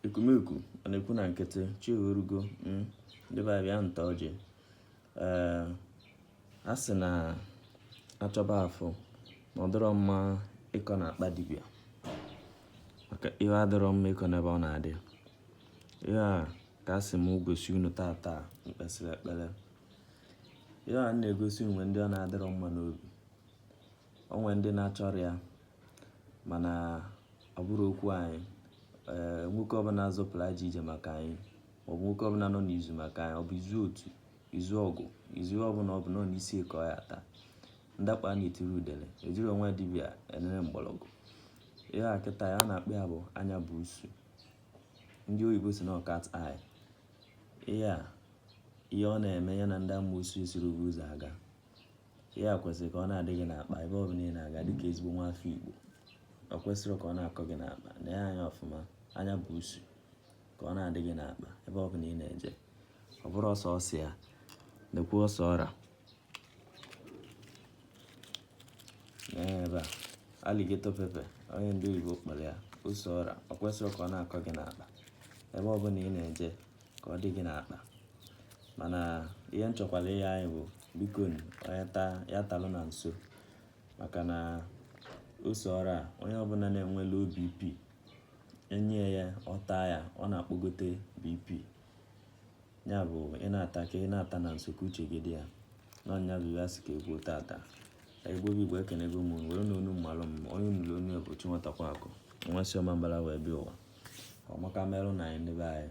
ekumeku ọ na-ekwu na nkịtị chi orugo hmm, ndị be anyị bịanụ taa ọjị ee a sị na achọba afụ na ọ dịrọ mma ịkọ na akpa dibịa maka ihe adịrọ mma ịkọ n'ebe ọ na-adị ihe a ka a sị m gosi unu tata m kpesịrị ekpere ihe a na-egosi o nwere ndị ọ na-adịrọ mma n'obi o nwere ndị na-achọrọ ya mana ọ bụrụ okwu anyị ee eh, nwoke ọbụla zọpụrụ ajọ ije maka anyị maọbụ nwoke ọbụla nọ n'izu maka anyị ọ bụ izu otu izu ọgụ izu ọbụla ọ bụ nọ n'isi ka ọ ya ata ndakpa na-etiri udele ejiri ọnwụ dibịa enere mgbọrọgwụ ihe a kịta ya na-akpọ ya bụ anya buusu ndị oyibo sị na ọ cat eye ihe a ihe ọ na-eme ya na ndị amoosu esiri ụzọ aga ihe a kwesịrị ka ọ na-adị gị n'akpa ebe ọ bụla ị na-aga dịka ezigbo nwa afọ Igbo o kwesịrọ ka ọ na-akọ gị n'akpa nee ya anya ọfụma anya buusu ka ọ na-adị gị n'akpa ebe ọ bụla ị na-eje ọ bụrọ sọọsọ ya lekwuo ose ọra ebe a alligator pepper ihe ndị oyibo kpọrọ ya ose ọra o kwesịrọ ka ọ na-akọ gị n'akpa ebe ọ bụla ị na-eje ka ọ dị gị n'akpa mana ihe m chọkwara ịyọ anyị bụ biko nu, onye taa ya talụ na nsọ maka na ose ọra onye ọbụla na-enwe low bp enye ya ọ taa ya ọ na-akpọgote bp ya bụ ị na-ata ka ị na-ata na nsọ ka uche gị dị ya na ọ ya bụ ihe a sị ka e kwuo tata Igbo bụ Igbo ekenego m were na onu mmalụ m onye nụrụ onu ya bụ Chinwetakwa akụ nwa si Ọmambala wee bịa ụwa ọmaka merụ na anyị ndị be anyị